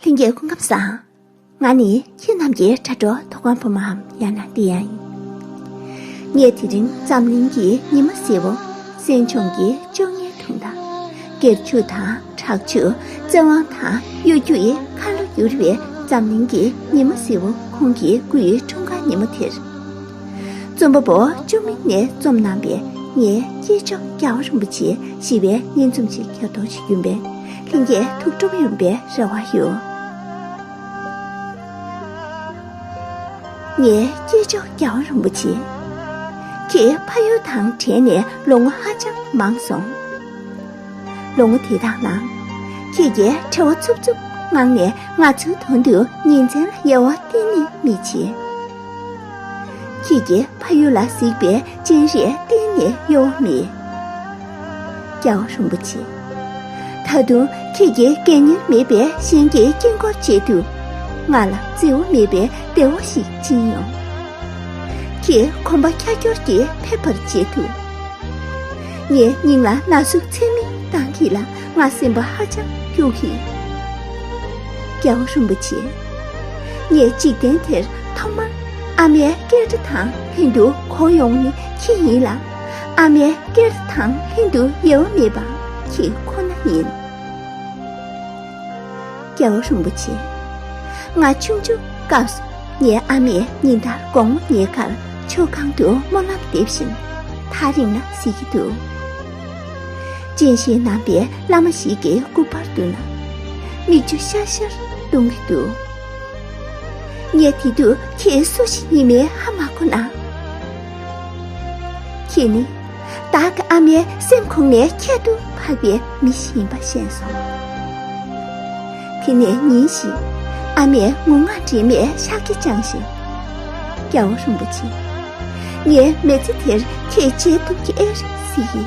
ལྷན་སྐྱེས་སྐུ་ཁམས་བཟང། ང་ནི་ཁྱེད་རྣམས་ཀྱི་དྲ་གྲོགས་མཐོ་སྒང་བུ་མོའམ་ཡང་ན་འདི་ཡང་ཡིན། ངས་དེ་རིང་འཛམ་གླིང་གི་ཉི་མ་བསེར་བུ་སྲན་ཆུང་གི་བཅོ་ལྔའི་དྲུང་དང། སྒེར་ཕྱུག་དང་དྲག་ཆུ་བཙན་དབང་དང་གཡོ་སྒྱུ་ཡི་ཁ་ལོ་བསྒྱུར་བའི་འཛམ་གླིང་གི་ཉི་མ་བསེར་བུ་ཁོང་གི་སྐུའི་འཁྲུངས་སྐར་ཉིན་མོ་དེར། རྩོམ་པ་པོ་ཅོ་མིག་ནས་རྩོམ་གནང་པའི་ངའི་སྐྱེས་མཆོག་སྐྱ་བོ་རིན་པོ་ཆེ་ཞི་བའི་སྙན་རྩོམ་ཞིག་ཁྱེར་རྟོགས་བྱེད་རྒྱུ་འབའ་ལྷན་སྐྱེས་ཐུགས་སྒྲུབ་ཡོན་པའི་རེ་བ་ཡོད། ངའི་སྐྱེས་མཆོག་རྒྱ་བོད་རིན་པོ་ཆེ་ཁྱེད་ཕ་ཡུལ་དང་བྲལ་ནས་ལོ་ངོ་ཧ་ཅང་མང་སོང། ལོ་ངོ་དེ་དག་ནང་ཁྱེད་ཀྱིས་ཁྲེལ་བ་འཚུབ་འཚུབ་ངང་ནས་ང་ཚོའི་དོན་དུ་ཉིན་མཚན་ལ་དབྱེ་བ་གཏན་ནས་མི་བྱེད། ཁྱེད་ཀྱི་ཕ་ཡུལ་ལ་གཟིགས་པའི་སྤྱན་རས་གཏན་ནས་གཡོ་བ་མེད། རྒྱལ་བ་རིན་པོ་ཆེ། ད་དུང་ཁྱེད་ཀྱི་སྐད་སྙན་མེད་པའི་གཤེན་གྱི་དཀྱིལ་འཁོར་ཆེད་དུ། ང་ལ་བརྩེ་བ་མེད་པའི་བདེ་བ་ཞིག་སྦྱིན་ཡོང། ཁྱེད་གོམ་པ་ཁྱར་ཁྱོར་གྱིས་ཕེབས་པར་བྱེད་དུ། ངའི་སྙིང་ལ་ན་ཟུག་ཚད་མེད་བཏང་གི་ལ་ང་སེམས་པ་ཧ་ཅང་སྐྱོ་གི་ཡོད། རྒྱལ་བ་རིན་པོ་ཆེ། ངས་འཇིག་རྟེན་དེར་ཐོག་མར་ཨ་མའི་སྐད་སྒྲ་དང་ལྷན་དུ་གོ་ཡོང་ནི་ཁྱི་ཡིན་ལ། ཨ་མའི་སྐད་སྒྲ་དང་ལྷན་དུ་ཡལ་བ་མེད་པ་ཁྱི་ཁོ་ན་ཡིན། རྒྱལ་བ་རིན་པོ་ཆེ། ང་ཆུང་ཆུང་སྐབས་སུ་ངའི་ཨ་མས་ཉིན་ལྟར་དགོང་མོ་ངའི་ཁར་མཆོད་ཁང་དུ་སྨོན་ལམ་འདེབས་བཞིན་ཐག་རིང་ལ་གཟིགས་ཀྱི་འདུག་སྤྱན་ཤེལ་བསྣམས་པའི་བླ་མ་ཞིག་གི་སྐུ་དཔར་བཏུད་ན། མིག་ཆུ་ཤར་ཤར་གཏོང་གི་འདུག། ངས་དེ་དུས་ཁྱེད་སུ་ཞིག་ཡིན་མིན་ཧ་མ་གོ་ན། ཁྱེད་ནི་བདག་གི་ཨ་མའི་སེམས་ཁོང་ནས་ཁྱད་དུ་འཕགས་པའི་མི་ཞིག་ཡིན་པ་ཤེས་སོང། དེ་ནས་ཉིན་ཞིག་ཨ་མས་ངུ་ངག་འདྲེས་མས་ཤག་གིས་བཅངས་ཤིང། སྐྱ་བོ་རིན་པོ་ཆེ། ངའི་མེ་ལྕེ་དེར་ཁྱེད་གཅེས་ཐུབ་ཀྱི་ཨེ་རེད་སྲིད།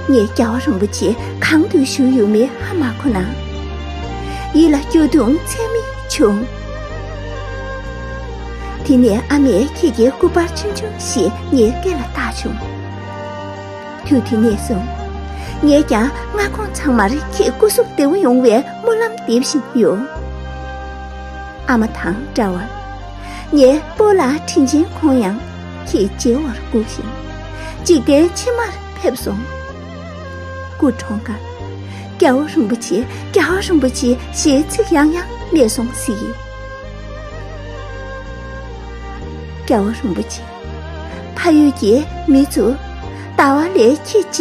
ངས་སྐྱ་བོ་རིན་པོ་ཆེ་གང་དུ་བཞུགས་ཡོད་མེད་ཧ་མ་གོ་ན། ཡིད་ལ་སྐྱོ་གདུང་ཚད་མེད་བྱུང། དེ་ནས་ཨ་མས་ཁྱེད་ཀྱི་སྐུ་པར་ཕྱིན་བྱུང་ཞེས་ངའི་སྐེ་ལ་བཏགས་བྱུང། དུས་དེ་ནས་བཟུང་ངས་ཀྱང་མངའ་ཁོངས་ཚང་མར་ཁྱེད་སྐུ་གཟུགས་བདེ་བོ་ཡོང་བའི་སྨོན་ལམ་འདེབས་བཞིན་ཡོད། ཨ་མ་དང་འདྲ་བར། ངའི་སྤོ་ལགས་དྲིན་ཆེན་ཁོང་ཡང་ཁྱེད་མཇལ་བར་སྒུག་ཞིང། འཇིག་རྟེན་ཕྱི་མར་ཕེབས་སོང། སྐུ་གྲོངས་སྐབས་རྒྱལ་བོ་རིན་པོ་ཆེ་རྒྱལ་བ་རིན་པོ་ཆེ་ཞེས་ཚིག་ཡང་ཡང་སྨྲས་སོང་ཟིག། རྒྱལ་བོ་རིན་པོ་ཆེ་ཕ་ཡུལ་གྱི་མི་ཚོས་ལྟ་བ་ལས་ཁྱེད་ཅི།